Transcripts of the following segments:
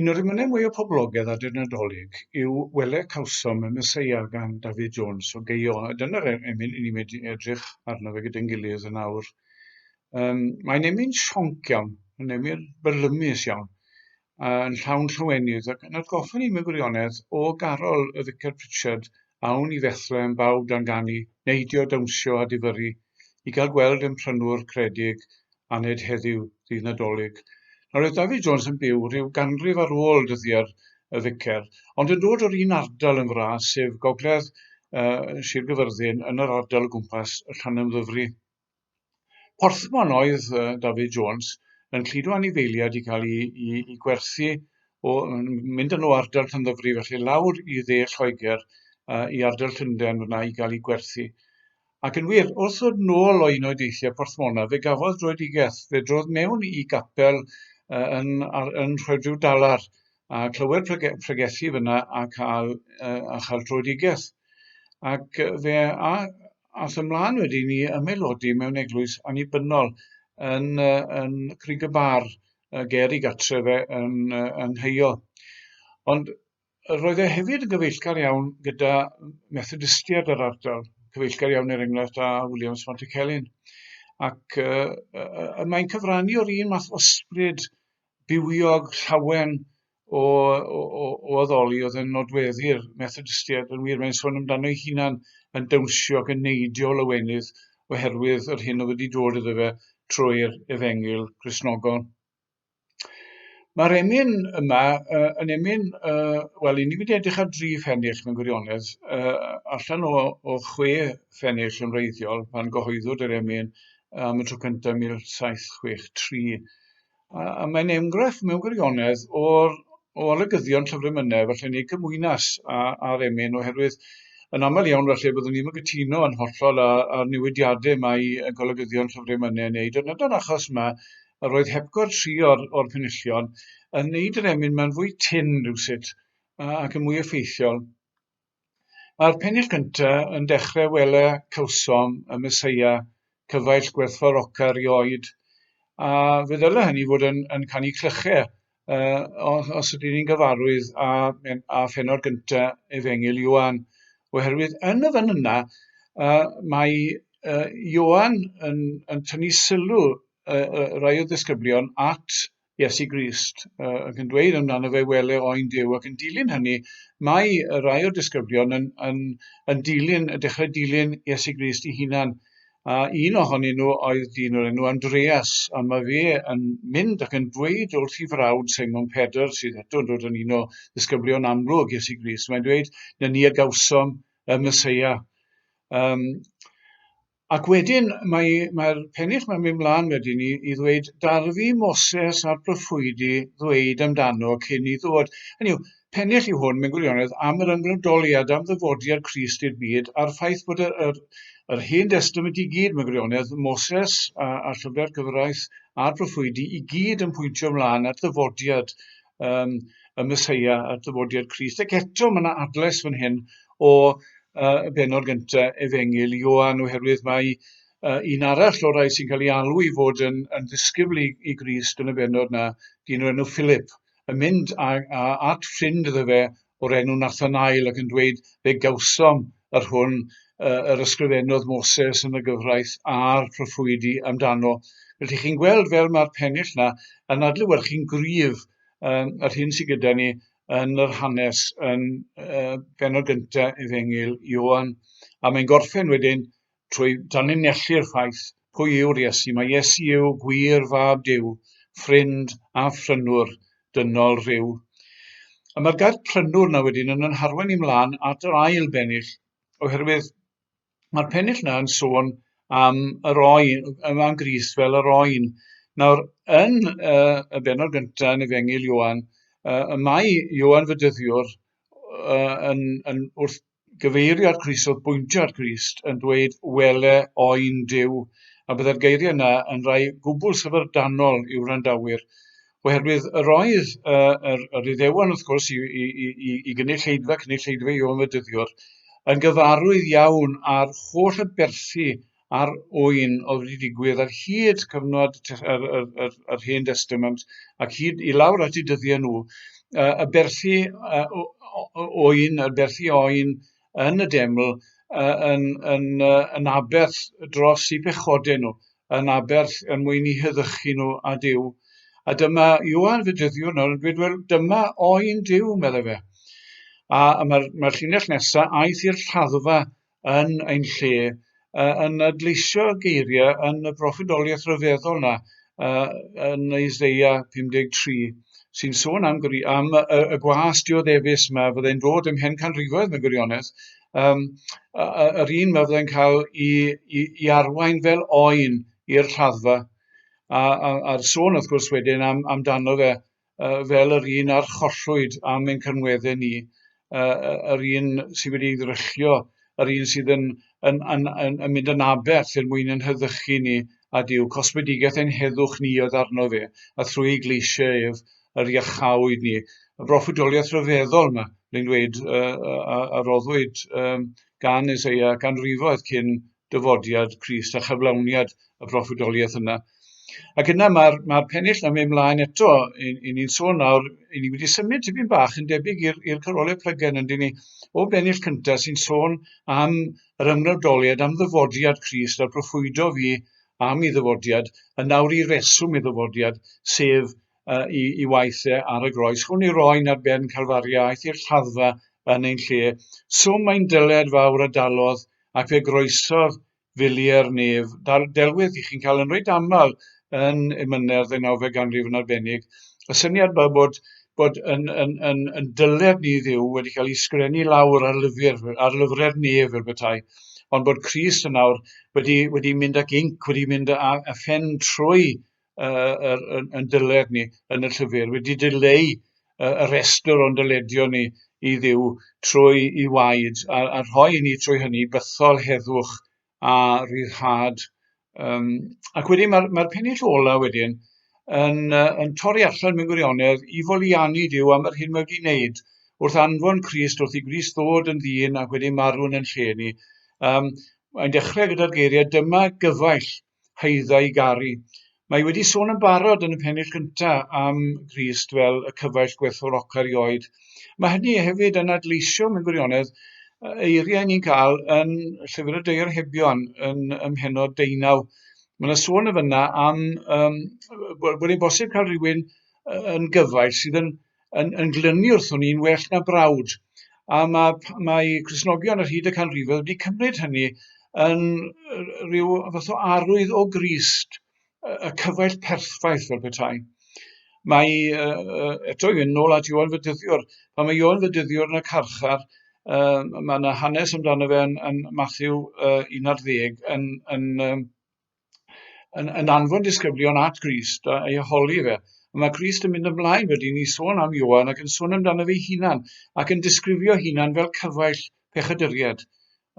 Un o'r emynau mwyaf poblogedd ar dy Nadolig yw Wele Cawsom y Meseia gan David Jones o Geio, a dyna'r e- emyn i ni mynd i edrych arno fe gyda'n gilydd yn awr. Um, mae'n emyn sionc iawn, yn emyn byrlymus iawn, a yn llawn llwynydd, ac yn atgoffa ni mewn gwirionedd o garol y Vicar Pritchard awn i Fethlem, bawb dan ganu, neidio, dawnsio a difyrru i gael gweld ein prynwr credig aned heddiw, ddydd Nadolig. Nawr oedd David Jones yn byw rhyw ganrif ar ôl dyddiad y ficer, ond yn dod o'r un ardal yn fras, sef gogledd uh, Sir Gyfyrddin, yn yr ardal o gwmpas y Llanymddyfri. Porthmon oedd uh, David Jones yn cludo anifeiliad i cael ei, ei, ei gwerthu o mynd yn o ardal Llanddyfri felly lawr i dde Lloegr uh, i ardal Llundain fyna i gael ei gwerthu. Ac yn wir, wrth ddod nôl o un o'i deithiau Porthmona, fe gafodd droedigaeth, fe drodd mewn i gapel uh, yn, ar, yn rhoi rhyw dalar a clywed prege, pregethu fyna a cael, uh, a chael droedigaeth. Ac fe a, Aeth ymlaen wedyn i ymaelodi mewn eglwys annibynnol yn, yn Crig y Bar, ger i gartref e yn, yng Ngheio. Ond roedd e hefyd yn gyfeillgar iawn gyda Methodistiaid yr ardal, cyfeillgar iawn er enghraifft â Williams Montecelin. Ac uh, uh, mae'n cyfrannu o'r un math o sbryd bywiog, llawen, o, o, o, o addoli oedd yn nodweddu'r Methodistiaid yn wir, mae'n sôn amdano ei hunan yn dawnsio ac yn neidio lawenydd oherwydd yr hyn oedd wedi dod iddo fe trwy'r efengyl grisnogol. Mae'r emyn yma uh, yn emyn, uh, wel, i ni wedi edrych ar dri ffennill mewn gwirionedd, uh, allan o, o chwe ffennill yn reiddiol pan gyhoeddwyd yr emyn am y tro cyntaf 1763. A, a mae'n enghraifft mewn gwirionedd o'r, o olygyddion llyfrymynau, felly ni gymwynas a'r emyn, oherwydd yn aml iawn felly byddwn ni'n gytuno yn hollol â'r newidiadau mae y golygyddion llyfrymynau yn wneud, ond yna'r achos yma, yr oedd hepgor tri o'r, o'r penillion yn wneud yr emyn mae'n fwy tyn rhywsut ac yn mwy effeithiol. Mae'r pennill gynta yn dechre wele cawsom y Meseia cyfaill gwerthfawroca rioed, a fe ddyle hynny fod yn, yn canu clyche uh, os ydyn ni'n gyfarwydd a, a pheno'r gynta efengil Ioan, oherwydd yn y fan yna uh, mae uh, Ioan yn, yn tynnu sylw uh, uh, rai o ddisgyblion at Iesu Grist, ac yn dweud amdano fe, wele oen Duw, ac yn dilyn hynny, mae rhai o'r disgyblion yn, yn, yn dilyn, yn dechrau dilyn Iesu Grist i hunan, a un ohonyn nhw oedd dyn o'r enw Andreas, a mae fe yn mynd ac yn dweud wrth ei frawd Simon Pedr, sydd eto yn dod yn un o ddisgyblion amlwg Iesu Grist, mae'n dweud, na ni a gawsom y Mesoea. Um, Ac wedyn mae mae'r pennill mae'n mynd mlaen wedyn i, i ddweud darfu Moses a'r proffwydi ddweud amdano cyn i ddod. Hynny yw, pennill yw hwn mewn gwirionedd am yr ymgryndoliad am ddyfodiad Christ i'r byd a'r ffaith bod yr, yr, yr hen destament i gyd mewn gwirionedd, Moses a, a llyfrau'r cyfraith a'r proffwydi i gyd yn pwyntio ymlaen at ddyfodiad um, y Mesoea a dyfodiad Christ. Ac eto mae yna adles fan hyn o uh, y benod gyntaf efengil Ioan oherwydd mae uh, un arall o'r rhai sy'n cael ei alw i fod yn, yn ddisgybl i, i Grist yn y benod na, dyn o'r enw Philip, yn mynd a, a, at ffrind iddo fe o'r enw Nathanael ac yn dweud, fe gawsom yr hwn uh, yr ysgrifennodd Moses yn y gyfraith a'r proffwydi amdano. Felly chi'n gweld fel mae'r pennill na yn adlywyrchu'n gryf um, yr hyn sydd gyda ni yn yr hanes yn uh, benod gyntaf Efengil Ioan. A mae'n gorffen wedyn trwy danlinellu'r ffaith pwy yw'r Iesu. Mae Iesu yw gwir fab Duw, ffrind a phrynwr dynol rhyw. A mae'r gair prynwr na wedyn yn ynharwen i mlaen at yr ail bennill, oherwydd mae'r pennill na yn sôn am yr oen, am Gris fel yr oen. Nawr, yn uh, y benod gyntaf yn Efengil Ioan, uh, mae Ioan Fydyddiwr uh, yn, yn wrth gyfeirio at Grist, oedd bwyntio at Grist, yn dweud wele oen Duw, a byddai'r geiriau yna yn rhai gwbl syfrdanol i'w wrandawyr, oherwydd yr oedd uh, yr, yr iddewan wrth gwrs i, i, i, i gynulleidfa, cynulleidfa i o'n fydyddiwr, yn gyfarwydd iawn ar holl aberthu ar ŵyn oedd wedi digwydd ar hyd cyfnod yr, yr, yr, yr Hen Testament ac hyd i lawr at ei dyddiau nhw, y berllu ŵyn, y berllu oen yn y deml, yn, yn, yn aberth dros i pechodau nhw, yn aberth yn mwyn i heddychu nhw a Dyw. A dyma Iwan fe dyddiwr nawr yn dweud, wel, dyma oen Dyw, meddai fe. A mae'r mae llinell nesaf, aeth i'r lladdfa yn ein lle, uh, yn adleisio geiriau yn y broffidoliaeth rhyfeddol yna, uh, yn Isaiah 53, sy'n sôn am, gwri, am y, y, y gwas dioddefus yma, fyddai'n dod ym mhen canrifoedd mewn gwirionedd, um, yr un mae fyddai'n cael i, i, i arwain fel oen i'r rhaddfa. A'r sôn, wrth gwrs, wedyn am, amdano fe uh, fel yr un a'r chollwyd am ein cynwedde ni, uh, yr un sydd wedi ei ddryllio, yr un sydd yn, yn, yn, yn, yn mynd yn aberth er mwyn yn hyddychu ni a diw. Cosbedigaeth ein heddwch ni oedd arno fe, a thrwy ei gleisiau ef yr iachawyd ni. Y broffwydoliaeth rhyfeddol yma, rwy'n dweud, uh, a, a roddwyd um, gan Isaiah ganrifoedd cyn dyfodiad Crist a chyflawniad y proffwydoliaeth yna. Ac yna mae'r ma pennill yn mynd mlaen eto, i, i ni'n sôn nawr, i ni wedi symud tipyn bach yn debyg i'r cyrolau plygen yn dyn ni, o bennill cyntaf sy'n sôn am yr ymwneudoliad, am ddyfodiad Crist a'r proffwydo fi am ei ddyfodiad, yn nawr i reswm ei ddyfodiad, sef i, i waith e ar y groes. Chwn i roi'n ar ben Calfaria, aeth i'r lladdfa yn ein lle. Swm mae'n dyled fawr a dalodd, ac fe groesodd filiau'r nef. Dal, delwedd i chi'n cael yn reit aml yn emynedd ddeunawfed ganrif yn arbennig. Y syniad yma bod, bod yn, yn, yn, yn dyled ni ddiw wedi cael ei sgrenu lawr ar, lyfr, ar lyfrau'r nef fel bethau, ond bod Christ yn awr wedi, wedi mynd ac inc, wedi mynd a, a phen trwy uh, yr, yn, yn dyled ni yn y llyfr, wedi dileu uh, y restr o'n dyledio ni i ddiw trwy i waed a, a rhoi i ni trwy hynny bythol heddwch a rhyddhad. Um, ac wedyn mae'r mae pennill ola wedyn yn, uh, yn torri allan mewn gwirionedd i foliannu Dyw am yr hyn mae wedi wneud wrth anfon Christ, wrth i Gris ddod yn ddyn ac wedi marw'n yn lle ni. Um, Mae'n dechrau gyda'r geiriau, dyma gyfaill haedda i garu. Mae wedi sôn yn barod yn y pennill gynta am Grist fel y cyfaill gwerthfawroca rioed. Mae hynny hefyd yn adleisio mewn gwirionedd eiriau ni'n cael yn Llyfr y Deir Hebion yn ymhenod deunaw. Mae yna sôn y fyna am um, bod yn bosib cael rhywun yn gyfaill sydd yn yn, yn glynu wrthwn ni'n well na brawd. A mae, mae Cresnogion ar hyd y canrifoedd wedi cymryd hynny yn rhyw fath o arwydd o Grist, y cyfaill perffaith fel petai. Mae, uh, eto i fynd nôl at Iwan Fydyddiwr, pan mae Iwan Fydyddiwr yn y carchar, uh, mae yna hanes amdano fe yn, yn Matthew uh, 11 yn, yn, um, yn, yn anfon disgyblion at Grist a ei holi fe. Mae Grist yn mynd ymlaen wedi ni sôn am Ioan ac yn sôn amdano fe hunan ac yn disgrifio hunan fel cyfaill pechaduried.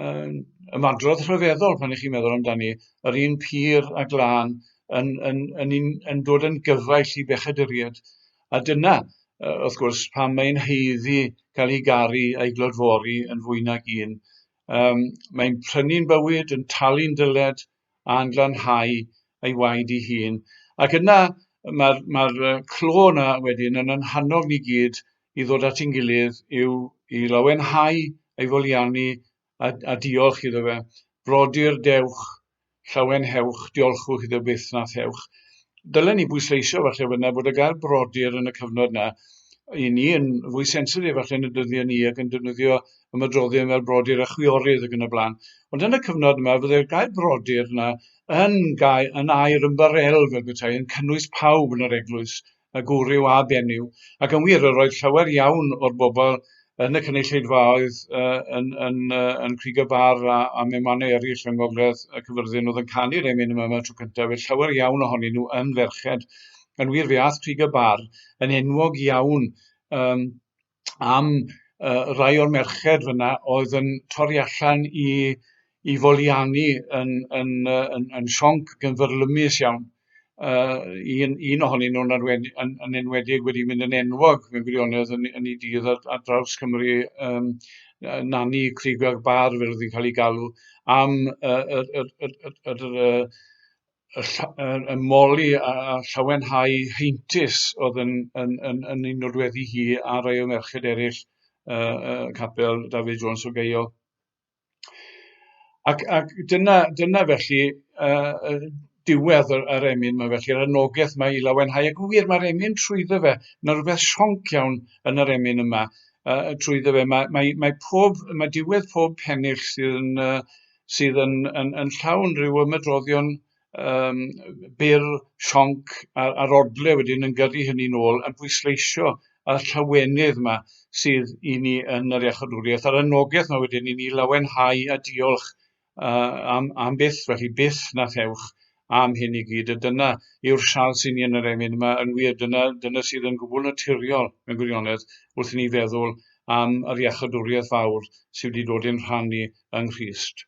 Um, ymadrodd rhyfeddol pan ych chi'n meddwl amdani, yr un pur a glân yn, yn, yn, yn, yn dod yn gyfaill i bechaduried. A dyna, wrth gwrs, pan mae'n heiddi cael ei garu a'i glodfori yn fwy nag un Yym, mae'n prynu'n bywyd, yn talu'n dyled, a'n glanhau ei waed ei hun. Ac yna, mae'r ma clo yna wedyn yn yn hannog ni gyd i ddod at ein gilydd i'w i lawenhau ei foliannu a, a diolch iddo fe. Brodyr, dewch Llawenhewch, diolchwch iddo byth na thewch. Dylen ni bwysleisio falle fynna bod y gair brodyr yn y cyfnod yna i ni yn fwy sensitif falle yn y dyddiau ni ac yn defnyddio ymadroddion fel brodyr a chwiorydd ac yn y blaen. Ond yn y cyfnod yma fydde'r gair brodyr yna yn, gair, yn air ymbarel fel petai yn cynnwys pawb yn yr eglwys y gwryw a benyw, ac yn wir, yr oedd llawer iawn o'r bobl yn y cynulleidfaoedd uh, yn, yn, uh, yn Crig y Bar a, a mewn mannau eraill yng Ngogledd y Cyfyrddin oedd yn canu'r emyn yma yma tro cyntaf, fe llawer iawn ohonyn nhw yn ferched. Yn wir, fe ath Crig y Bar yn enwog iawn um, am yy rai o'r merched fyn 'na oedd yn torri allan i i foliannu yn yn yy yn yn sionc ac yn fyrlymus iawn. Yy un un ohonyn nw'n arwen- yn yn enwedig wedi mynd yn enwog mewn gwirionedd yn yn 'i dydd ar ar draws Cymru yym yy Nani Crug y Bar fel o'dd 'i'n ca'l 'i galw am yy yr yr yr yr yr yy y, y, y moli a, a llawenhau heintus oedd yn, yn, yn, yn ei nodweddi hi a rai o merched eraill uh, uh, capel David Jones o Geio. Ac, ac dyna, dyna felly uh, diwedd yr, yr emyn mae felly, yr anogaeth mae i lawenhau. Ac yn wir, mae'r emyn trwyddo fe, na rhywbeth sionc iawn yn yr emyn yma uh, trwyddo fe. Mae, mae, mae, pob, mae diwedd pob pennill sydd yn, uh, sydd yn yn yn llawn rhyw ymedroddion yym byr, sionc a'r a'r odle wedyn yn gyrru hynny'n ôl a bwysleisio y llawenydd yma sydd i ni yn yr iachawdwriaeth a'r anogaeth yma wedyn i ni lawenhau a diolch uh, am, am byth, felly byth na thewch am hyn i gyd, a dyna yw'r siawns i ni yn yr emyn yma, yn wir, dyna, dyna sydd yn gwbl naturiol mewn gwirionedd wrth i ni feddwl am yr iachydwriaeth fawr sydd wedi dod i'n rhan ni yng Nghrist.